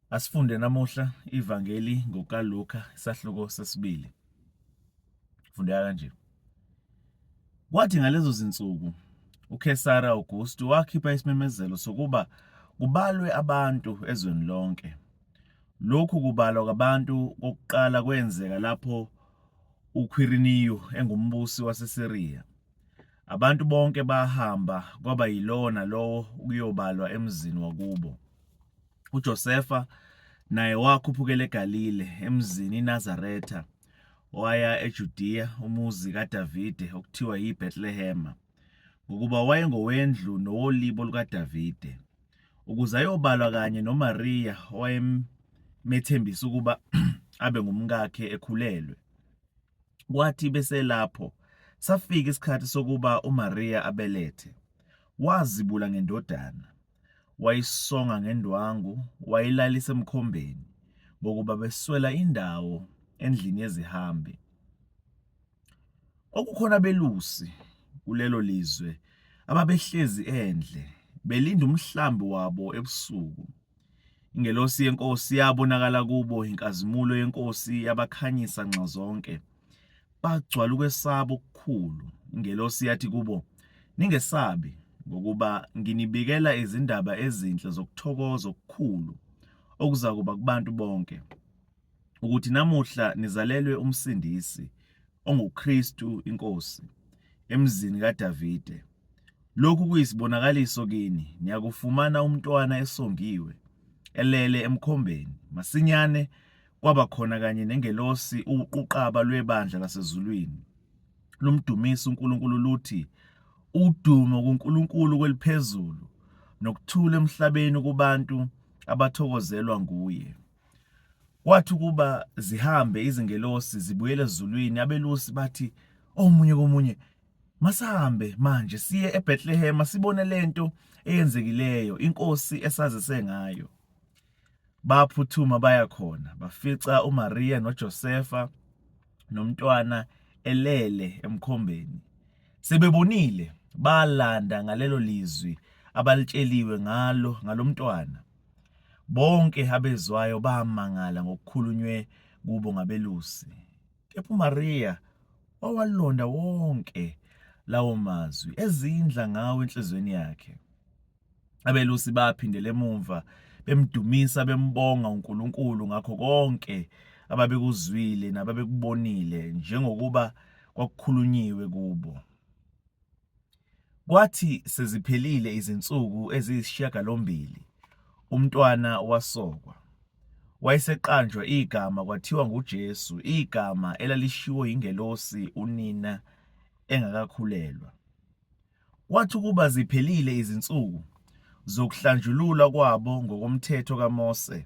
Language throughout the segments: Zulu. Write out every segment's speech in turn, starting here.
Asifunde namuhla ivangeli ngokaLuka isahluko sesibili. Fundeka kanje. Kwathi ngalezo zinsuku uKesara Augustu wakhipha isimemezelo sokuba kubalwe abantu ezweni lonke. Lokhu kubalwa kwabantu kokuqala kwenzeka lapho uQuiriniyu engumbusi waseSiriya Abantu bonke bahamba kwaba yilona lowo ukuyobalwa emzini wakubo. UJosefa naye wakhuphukela eGalile emzini iNazaretha waya eJudiya umuzi kaDavide okuthiwa yiBethlehema ngokuba wayengowendlu nowolibo lukaDavide ukuze ayobalwa kanye noMariya owayemethembisa ukuba abe ngumkakhe ekhulelwe. Kwathi beselapho, safika isikhathi sokuba uMariya abelethe. Wazibula ngendodana, wayisonga ngendwangu, wayilalisa emkhombeni, ngokuba beswela indawo endlini yezihambi. Okukhona belusi kulelo lizwe ababehlezi endle, belinda umhlambi wabo ebusuku. Ingelosi yeNkosi yabonakala kubo, inkazimulo yeNkosi yabakhanyisa nxa zonke. Bagcwala ukwesaba okukhulu. Ingelosi yathi kubo, Ningesabi, ngokuba nginibikela izindaba ezinhle zokuthokoza okukhulu okuzakuba kubantu bonke. ukuthi namuhla nizalelwe umsindisi onguKristu inkosi emzini kaDavide. Lokhu kuyisibonakaliso kini, niyakufumana umntwana esongiwe elele emkhombeni. Masinyane kwaba khona kanye nengelosi uquqaba lwebandla lasezulwini lumdumisa uNkulunkulu luthi udumo kuNkulunkulu kweliphezulu nokuthula emhlabeni kubantu abathokozelwa nguye. Kwathi ukuba zihambe izingelosi zibuyele ezulwini, abelusi bathi omunye komunye, Masihambe manje siye eBethlehema sibone lento eyenzekileyo inkosi esazise ngayo. Baphuthuma baya khona, bafica uMariya noJosefa nomntwana elele emkhombeni. Sebebonile, balanda ngalelo lizwi abalitsheliwe ngalo ngalomntwana. Bonke abezwayo bamangala ngokukhulunywe kubo ngabelusi, kepha uMariya wawalonda wonke lawo mazwi ezindla ngawo enhlizweni yakhe. Abelusi baphindela emumva bemdumisa bembonga uNkulunkulu ngakho konke ababekuzwile nababekubonile njengokuba kwakukhulunyiwe kubo. Kwathi seziphelile izinsuku eziyisishiyagalombili umntwana wasokwa. Wayeseqanjwa igama kwathiwa nguJesu, igama elalishiwo yingelosi unina engakakhulelwa. Kwathi ukuba ziphelile izinsuku zokuhlanjululwa kwabo ngokomthetho kaMose,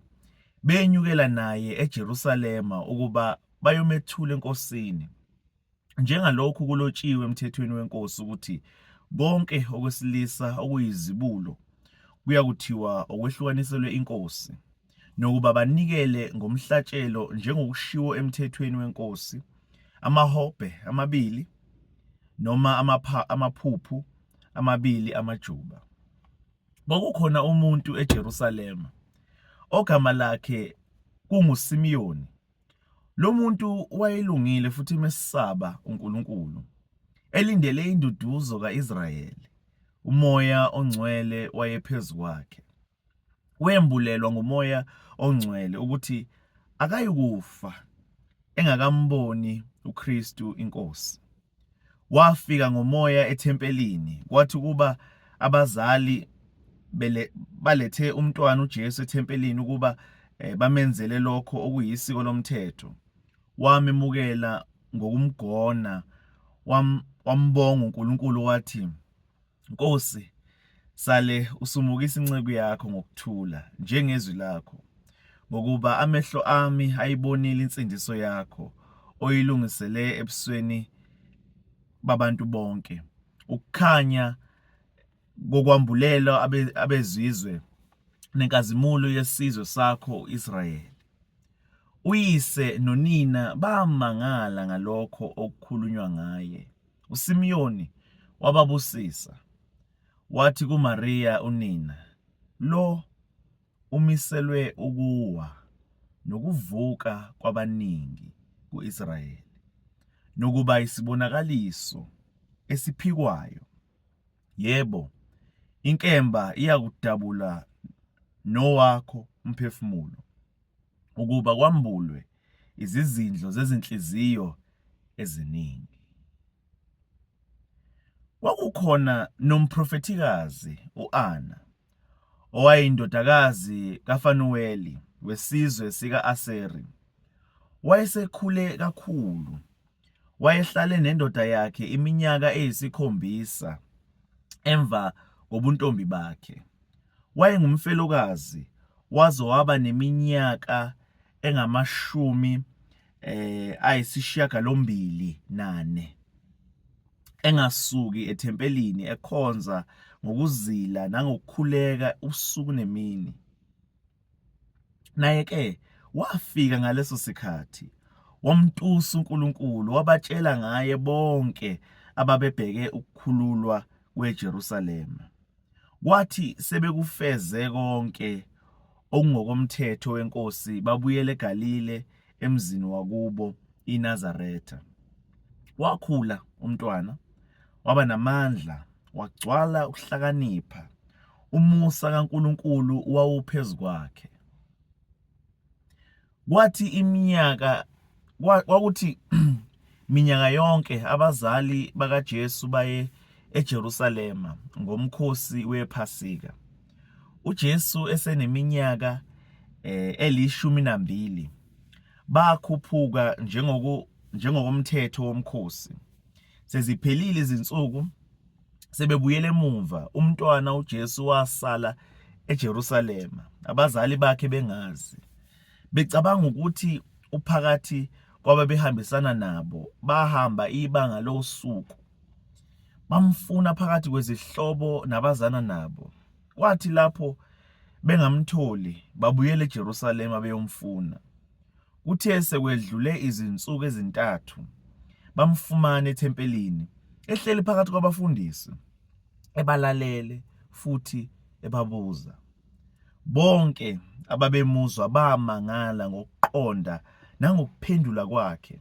benyukela naye eJerusalema ukuba bayomethula enkosini. njengalokhu kulotshiwe emthethweni wenkosi ukuthi konke okwesilisa okuyizibulo kuya kuthiwa okwehlukaniselwe inkosi nokuba banikele ngomhlatshelo njengokushiwo emthethweni wenkosi amahobhe amabili noma amapha amaphuphu amabili amajuba kwakukhona umuntu eJerusalema ogama lakhe kunguSimiyoni Lo muntu wayelungile futhi mesaba uNkulunkulu, elindele induduzo ka-Israyeli. Umoya ongcwele wayephezu kwakhe. Wembulelwa ngumoya ongcwele ukuthi akayikufa engakamboni uKristu iNkosi. Wafika ngomoya ethempelini kwathi ukuba abazali balethe umntwana uJesu ethempelini ukuba eh, bamenzele lokho okuyisiko lomthetho. Wamemukela ngokumgona wambonga uNkulunkulu wathi Nkosi, sale usumukisa inceku yakho ngokuthula njengezwi lakho, ngokuba amehlo ami ayibonile insindiso yakho oyilungisele ebusweni babantu bonke, ukukhanya kokwambulela abezizwe nenkazimulo yesizwe sakho uIsrayeli. Uyise nonina bamangala ngalokho okukhulunywa ngaye. USimiyoni wababusisa, wathi kuMariya unina, Lo umiselwe ukuwa nokuvuka kwabaningi ku-Israyeli, nokuba isibonakaliso esiphikwayo, yebo, inkemba iyakudabula nowakho umphefumulo, ukuba kwambulwe izizindlo zezinhliziyo eziningi. Kwakukhona nomprofethikazi u-Ana owayindodakazi kaFanuweli wesizwe sika-Aseri. Wayesekhule kakhulu wayehlale nendoda yakhe iminyaka eyisikhombisa emva kobuntombi bakhe. Wayengumfelokazi waze waba neminyaka engamashumi eh ayisishiyagalombili nane engasuki ethempelini ekhonza ngokuzila nangokukhuleka usuku nemini. naye ke wafika ngaleso sikhathi wamtusa uNkulunkulu wabatshela ngaye bonke ababebheke ukukhululwa kweJerusalema kwathi sebekufeze konke okungokomthetho wenkosi babuyele eGalile emzini wakubo iNazaretha wakhula umntwana waba namandla, wagcwala ukuhlakanipha, umusa kaNkulunkulu wawuphezu kwakhe. Kwathi iminyaka kwakuthi minyaka yonke abazali bakaJesu baye eJerusalema ngomkhosi wePhasika. UJesu eseneminyaka eh, elishumi nambili bakhuphuka njengoku njengokomthetho womkhosi. Seziphelile izinsuku sebebuyele emuva, umntwana uJesu wasala eJerusalema, abazali bakhe bengazi. Becabanga ukuthi uphakathi kwababehambisana nabo, bahamba ibanga losuku. Bamfuna phakathi kwezihlobo nabazana nabo. Kwathi lapho bengamtholi, babuyela eJerusalema beyomfuna. Kuthe sekwedlule izinsuku ezintathu bamfumana ethempelini ehleli phakathi kwabafundisi ebalalele futhi ebabuza. Bonke ababemuzwa bamangala ngokuqonda nangokuphendula kwakhe.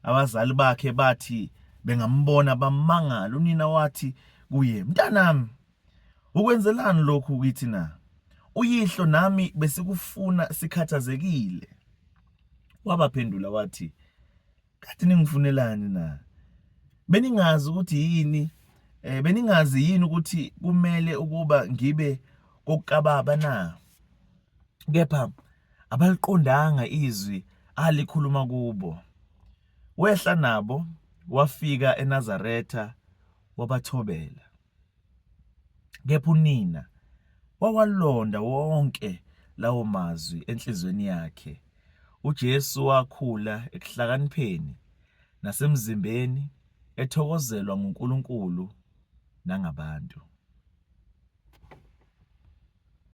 Abazali bakhe bathi bengambona bamangala, unina wathi kuye, "Mntanami, Ukwenzelani lokhu kithi na? Uyihlo nami besikufuna sikhathazekile. Wabaphendula wathi, Kade ningifunelani na? Beningazi ukuthi yini eh beningazi yini ukuthi kumele ukuba ngibe kokababa na? Kepha abaliqondanga izwi alikhuluma kubo. Wehla nabo wafika eNazaretha wabathobela. Kepha unina wawalonda wonke lawo mazwi enhliziyweni yakhe. UJesu wakhula ekuhlakanipheni nasemzimbeni, ethokozelwa nguNkulunkulu nangabantu.